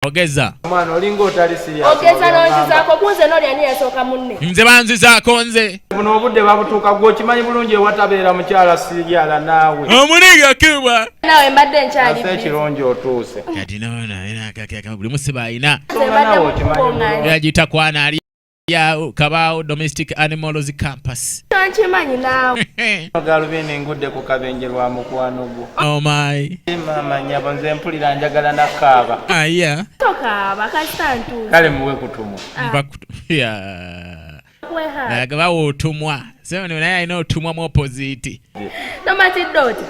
ogeza omwana olinga otali serious ogeza nonzizaako kunze noli ani yasooka munne nze banzizaako nze buno obudde babutuuka gwe okimanyi bulungi ewatabeera mukyala siyala naawe omuliga kibwa naawe mbadde nkyali ekirungi otuuse kati noona era akakeka buli musiba alina yagita kwana ali yawo kabaawo domestic animals campus tankimanyi naawe agalubindi engudde ku kabenje lwa mukwano gwo omayi oh maama nyabo nze mpulira njagala nakaaba aya ah, tokaaba kasita ntuuza kale muwe kutumwa ah. naye bawa otumwa naye alina otumwa mu opoziti tomatidde oti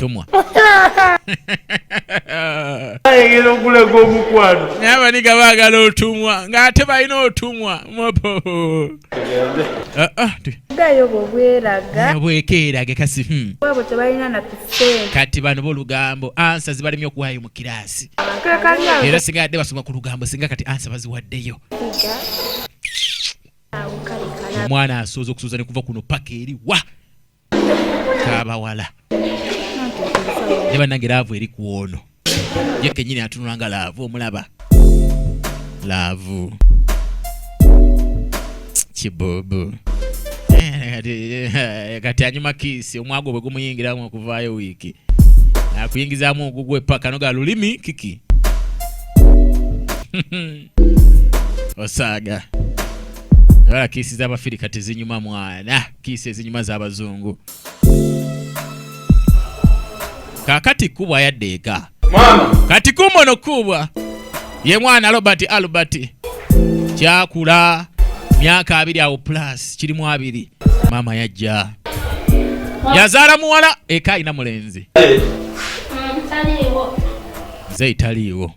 tumwa ayegera okulega omukwano naye abaniga baagala otumwa ng'ate balina otumwa bwekeerage kasi hmm. kati bano bolugambo ansa zibalemye okuwaayo mu kiraasi era singa yadde basoma ku lugambo singa kati ansa baziwaddeyo omwana asooza okusuuza ne kuva kuno paka eri wa kabawala naye bannange laavu eri ku ono ye kenyini atunula nga laavu omulaba laavu kibubu eh, kati anyuma kiisi omwago bwe gumuyingiramu okuvaayo wiiki akuyingizamu ogugwe paka noga lulimi kiki osaaga wala kiisi z'abafirika tezinyuma mwana kiisi ezinyuma z'abazungu kakati kubwa yadde eka kati kumono kubwa ye mwana robert albert kyakula myaka abiri awo plus kirimu abiri maama yajja yazaala muwala eka alina mulenzi nze italiiwo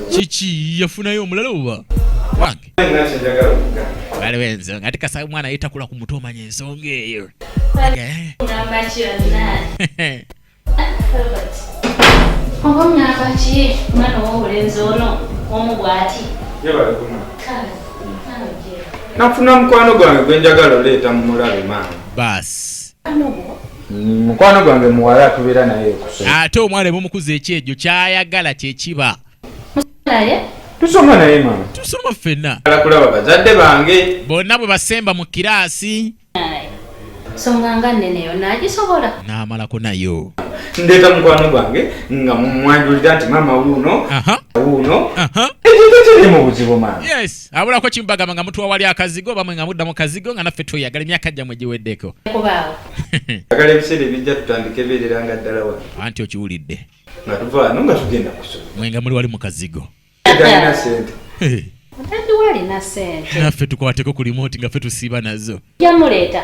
kiki yafunayo omulala oba wange waliwo ensonga ate kasaba omwana ye takula ku mutu omanya ensonga eyo nafuna mukwano gwange gwenjagala oleeta mumulabe maama baasi mukwano gwange muwala tubeera naye ate omwana ebumukuza ekyejo kyayagala kyekiba tusoma naye mama tusoma ffenna alakulaba bazadde bange bonna bwe basemba mu kiraasi songa nga neneyo nagisobola namalako nayo ndeeta mukwano gwange nga mumwanjulira nti mama wuuno wuuno ekintu kiri mu buzibu mama yes abulako kimu bagamba nga mutuwa wali akazigo bamwe nga mudda mu kazigo nga naffe tweyagala emyaka gyammwe giweddeko agala ebiseera ebijja tutandika ebeerera nga ddala wa anti okiwulidde nga tuvaano nga tugenda kusoma mwe nga muli wali mu kazigo talina sente naffe tukwateko ku limoti nga ffe tusiiba nazo yamuleeta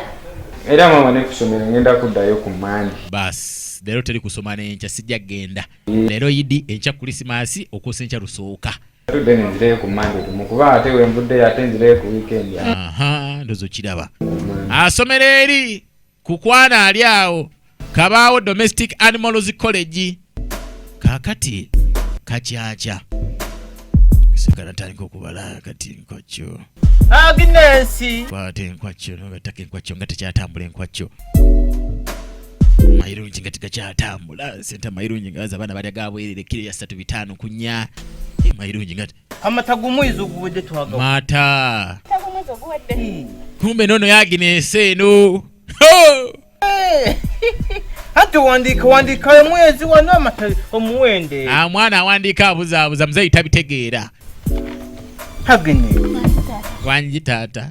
era mama nekusomero ngenda kuddayo ku mandi basi leero teri kusoma nenkya sijja kugenda leero idi enkya kulisimaasi okuusa enkya lusooka tudde ne nzirayo ku mande tumu kuba ate wenvuddeyo ate nzirayo ku wiikendi ndozo kiraba asomera eri ku kwana ali awo kabaawo domestic animals college kakati kakyakya sigala tandika okubala kati nkwakyo agnesi kwata enkwakyo nogataka enkwakyo nga tekyatambula enkwakyo mayirungi nga tigakyatambula sente amayirungi nga abaana balya gabwerere kiro ya satu bitaano kunya eh, mayirungi nga amata gumwezi oguwedde twaga mata hmm. kumbe nono yaginese eno eh. anti wandiika wandiika omwezi wano amata omuwende ah, mwana awandiika abuzaabuza muzeyi tabitegeera agene wangi taata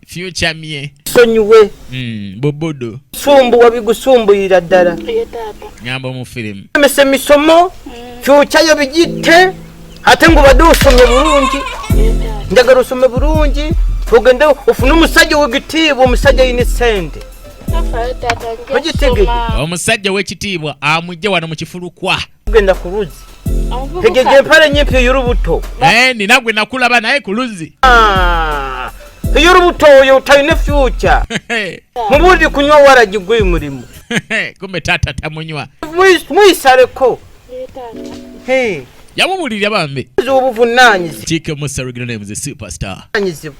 future mye sonyiwe mm, bobodo sumbu wabigusumbuyira ddala ngamba omufirimu emese misomo future yo bigitte ate ngo badde osome bulungi njagala osome bulungi ogende ofune omusajja wegitiibwa omusajja yina esente omusajja wekitiibwa amujje wano mukifulukwa kugenda ku luzzi tegeja empala enyimpi ey'olubuto eh, nina gwe nakulaba naye ku luzzi ah, ey'olubuto oyo talina fyuca mubuuzi kunywa waragi gwe mulimu kumbe taata tamunywa muyisaleko yamubulirira bambi obuvunaanyizibwa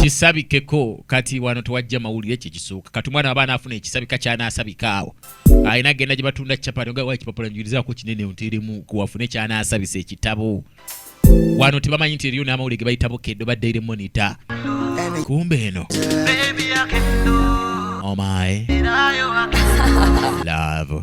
kisabikeko kati wano tewajja mawulire ekyo ekisooka kati omwana wabaana afuna ekisabika kyanaasabika awo alina agenda gye batunda capati nga wa ekipapula njulizako kinene nteremu kuwafune kyanaasabisa ekitabo wano tebamanyi nti eriyo n'amawulire ge bayitabo keddo ba daily monitor kumbe eno omae oh love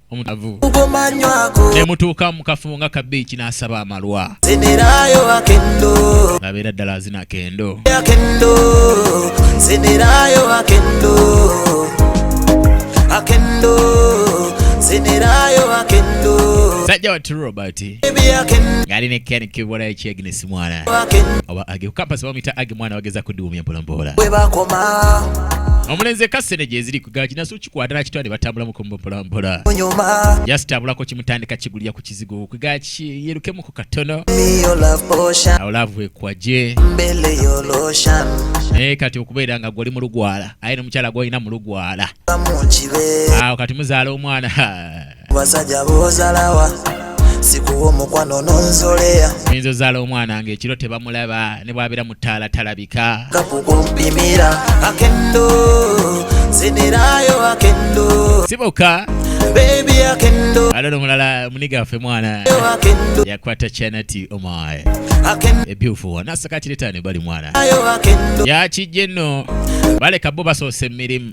omutavu nemutuuka mukafumu nga kabiiki n'asaba amalwa abeera ddala azina kendo sajja watu robert ngali ne ken kibula ekyegnes mwana oba age kukampasi bamuyita age mwana bageza kudiwumya mpolampola omulenzi ekasene gyeziri kugakinasu kwadala kitwale batambula mukombo mpola mpola just abulako kimutandika kigulira ku kizigo kwiga yelukemu ku katono awo laavu ekwaje naye kati okubeera nga gwoli mu lugwala aye nomukyala gwolina mu lugwala awo kati muzaala omwana basajja bozalawa sikuwa omukwano nonzoleya oyinza ozaala omwana nga ekiro tebamulaba ne bwabeera mu ttaala talabika kakukumpimira akendo zinirayo akendo siboka alala omulala muniga waffe mwana yakwata chanati omae ebyufu wona asakatiretane bali mwana yakijje nno baleka bo basoose mu mirimu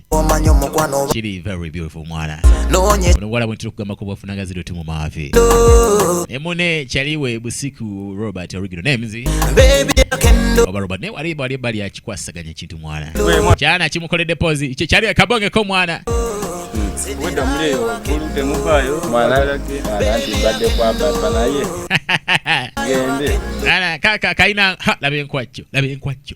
kiri very beautiful mwana onomuwala bwe ntira okugamba kubwafuna nga ziri otimu maavi ne mune kyaliwe busiku robert original names oba robert naye wali bali bali akikwasaganya ekintu mwana kyana kimukoledde pozi kyali akabongeko mwana wenda muleyo kulute muvayo mwana anti mbadde kwambasa naye gende kaka kalina laba enkwajjo laba enkwajjo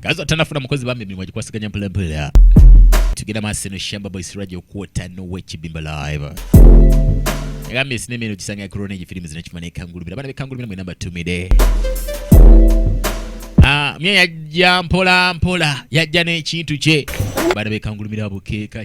kazi atanafuna mukozi bambi emirimu agikwasiganya mpolampola tugenda maaso eno shamba boys radio kwota nowekibimba live agambye sinema eno gisanga corona egi firimu zino kifuma nekangulumira abaana bekangulumira mwena mbatumire ah, mye yajja mpola mpola yajja n'ekintu kye baana bekangulumira bukeeka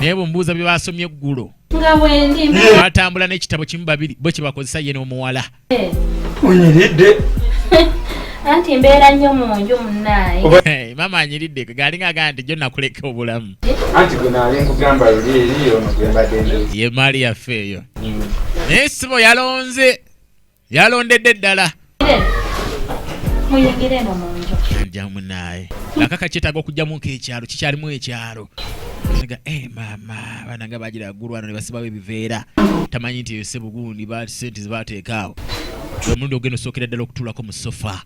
naye bwemubuuza bye baasomye eggulo batambula n'ekitabo kimu babiri bwe kye bakozesa ye n'omuwala onyiridde anti mbeera nnyo mu nju munaaye eh, maama anyiridde gaali ngaagaa nti jo nakuleka obulamu ye maali yaffe eyo mm. naye sibo yalonze yalondedde ddala jamunaye akaka kyetaaga okujjamu nkekyalo kikyalimu ekyalo nga eh, maama abaana nga bagira agulwana ne basibawo ebiveera tamanyi nti eyo sebugundi sente zebateekaawo omulundi ogenda osookera ddala okutulako mu sofa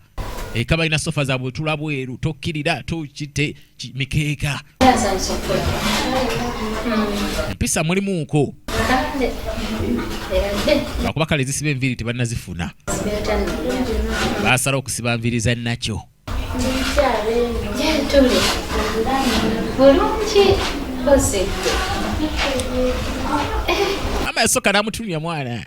eka balina sofa za butula bweru tokkirira tokite mikeeka empisa mulimuuko lwakuba kale zisiba enviiri tebanazifuna basala okusiba nviiri za nakyo ama yasoka namutunya mwana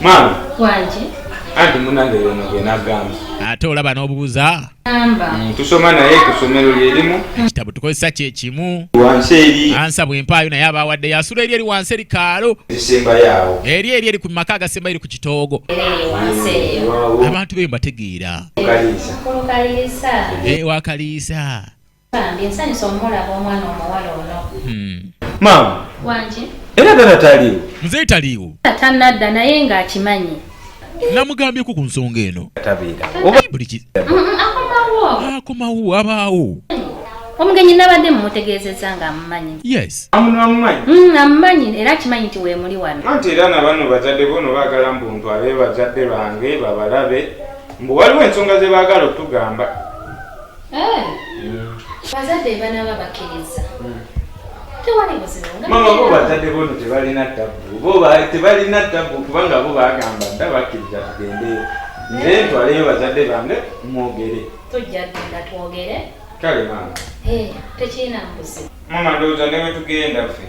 maama wangi anti munange yono gwenagamba ate olaba n'obubuza mm, tusoma naye ku ssomero lyerimu mm. ekitabo tukozesa kyekimu wansi eri ansa bwempaayo naye aba awadde yasula eri eri wansi eri kaalo esembayaawo eri eri eri ku maka agasemba eri ku kitoogo abantu beyo mbategeera wakaliisa eh, Bambi nsanyuse omulaba omwana omuwala ono. Hmm. Maama. Wangi. Era tata taliiwo. Mzee taliiwo. Tata nadda naye nga akimanyi. Namugambyeko ku nsonga eno. Tabeera. Oba buli ki. Mm, mm, akomawo. Akomawo abaawo. Omugenyi nabadde mumutegeezezza nga amumanyi. Yes. Amuno amumanyi. Mm, amumanyi era akimanyi nti weemuli wano. Anti era na bano bazadde bo no baagala mbu ntwale bazadde bange babalabe mbu waliwo ensonga ze baagala okutugamba. Eh. Mm. Bazadde banaaba bakkiriza. Mm. Tewali buzibu. Mama bo bazadde bono tebalina tabbu. Bo tebalina tabbu kubanga bo bagamba dda bakkiriza tugendeyo. Nze eh. ntwaleyo bazadde bange mwogere. Tujja tugenda twogere. Kale mama. Eh, tekirina buzibu. Mama ndowooza ne bwe tugenda ffe.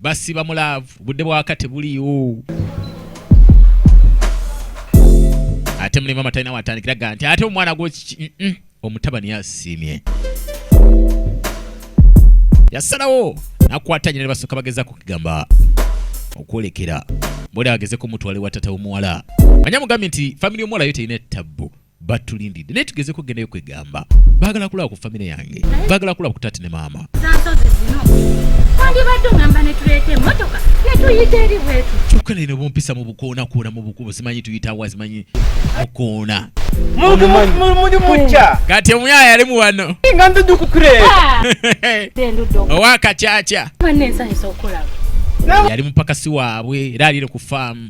basiba mu laavu budde bwaka tebuliiwo ate mulimu amatalina watandikira ga nti ate omwana gwo omutabani yasiimye yasalawo nakwata nyina ne basooka bagezaako okugamba okwolekera bwoli agezeko mutwale wa tata w'omuwala manya mugambi nti famire y'omuwala yo terina ettabbu batulindidde naye tugezeko gendayo kwegamba bagala kulaba ku famire yange bagala kulaba ku taati ne maama kyokka naye nobumpisa mu bukoona koona mu bukubo simanyi tuyitawa simanyi mukoona kati omuyaya yalimu wano owakacaca yali mupakasi waabwe era alire ku faamu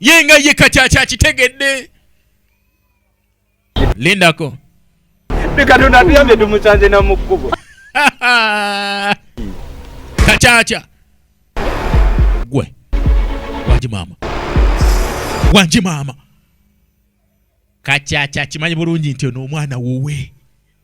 ye nga ye kati akyakitegedde lindako katonda tuyambye tumusanze na mu kkubo kakyakya gwe wangi maama wangi maama kakyakya kimanyi bulungi nti ono omwana wuwe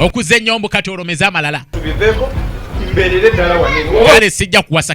okuze nyombo kati olomeze amalala kale sijja kuwasa